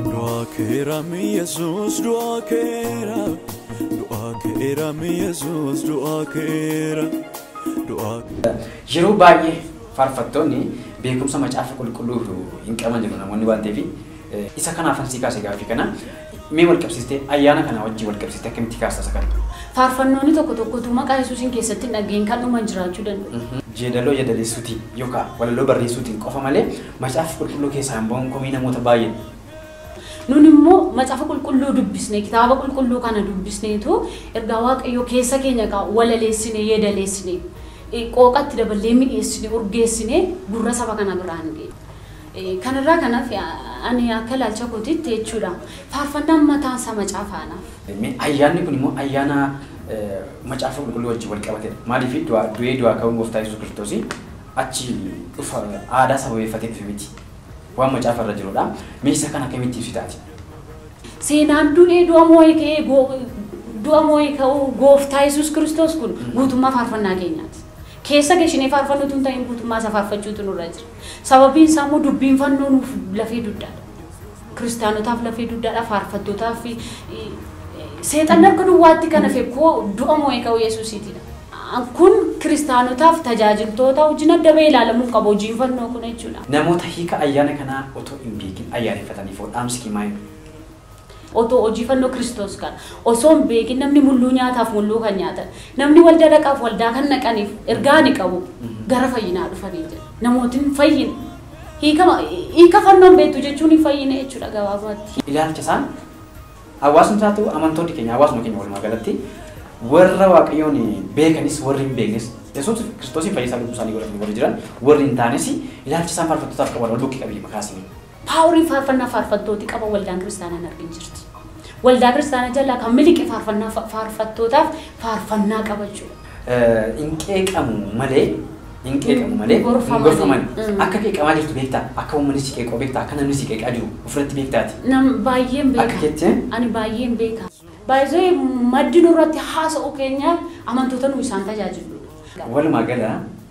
Du'aa keeram Yesuus du'aa keera. Du'aa keeram Yesuus du'aa keera. Du'aa Yeroo baay'ee faarfattoonni beekumsa macaafa qulqulluu hin qaban jedhu namoonni waan ta'eef Isa kanaafan sii kaase gaaffii kana. Mee wal qabsiistee ayyaana kana wajjin wal qabsiistee akkamitti kaasta isa kana? Faarfannoonni tokko tokko utuu maqaa Yesuusiin keessatti hin dhaga'in kan dhuman jiraachuu danda'u. Jeedaloo yeedaleessuutiin yookaan walaloo barreessuutiin qofa malee Macaafa Qulqulluu keessaa hin ba'uun komii namoota baay'eedha. Nun immoo Macaafa Qulqulluu dubbisnee, Kitaaba Qulqulluu kana dubbisneetu ergaa Waaqayyoo keessa keenya egaa walaleessinee, yeedaleessinee, qooqa itti daballee mi'eessinee, urgeessinee gurra saba kana biraan geenya. Kana irraa kan hafe ani akka ilaalcha kootiitti jechuu dha. Faarfannaan mataan isaa Macaafa anaaf. Mee ayyaanni kun immoo ayyaana Macaafa Qulqulluu wajjin wal qabatee dha. Maaliif du'a du'ee du'aa ka'uun Gooftaa Yesuus Kiristoos achi dhufa aadaa sababeeffatee dhufe miti. Waan Macaafa irra jiru dha. Mee isa kana akkamitti ibsita ati? Seenaan du'ee du'a moo'ee ka'ee go du'a moo'ee ka'uu Gooftaa Yesuus Kiristoos kun guutummaa faarfannaa keenyaati. Keessa geshinee faarfannu utuu hin ta'iin guutummaa isaa faarfachuutu nurra jira. Sababiin isaa immoo dubbiin fannoo nuuf lafee dugdaadha. Kiristaanotaaf lafee dugdaadha, faarfattootaaf, seexanni akka duwwaatti kan hafe koo du'a moo'ee ka'uu Yesuusiitidha. Kun kiristaanotaaf, tajaajiltoota wajjin adda ba'ee ilaalamuu hin qabu hojiin fannoo kun jechuudha. Namoota hiika ayyaana kanaa otoo hin beekin ayyaaneffataniifoo dhaamsi kee maayini? Otoo hojii fannoo Kiristoos kana osoo hin beekin namni mulluu nyaataaf mulluu kan nyaatan, namni waldaa dhaqaaf waldaa kan dhaqaniif ergaa ani qabu gara fayyinaa dhufaniin jedha. Namooti hin fayyine. Hiikama, hiika fannoo hin beektu jechuun hin fayyine jechuudha gabaabaatti. Ilaalcha isaan hawaasni isaa ta'u amantoonni keenya hawaasuma keenya walumaa galatti warra Waaqayyoon beekanis warri hin beeknes Yesuus Kiristoosiin fayyisaa lubbuu isaanii godhatanii warri jiran warri hin taanes ilaalcha isaan faarfattootaaf qaban wal bukkee qabii makaasini. Power faarfannaa faarfattooti qaban waldaan kiristaanaa hin argin jirti. Waldaa kiristaanaa jalaa kan miliqe faarfannaa fa- faarfattootaaf faarfannaa qaba jechuudha. Eh, hin qeeqamu malee hin qeeqamu malee Hin gorfaman. hin gorfaman Mm. akka qeeqamaa jirtu beektaa akka uummanni si qeequu beektaa akka namni si qeeqaa jiru ofirratti beektaati Nam baay'een beeka. Akka jettee? Ani baay'een beeka. Baay'ee maddi nurratti haasa'u keenyaaf amantoota nu isaan tajaajiludha. walumaa gala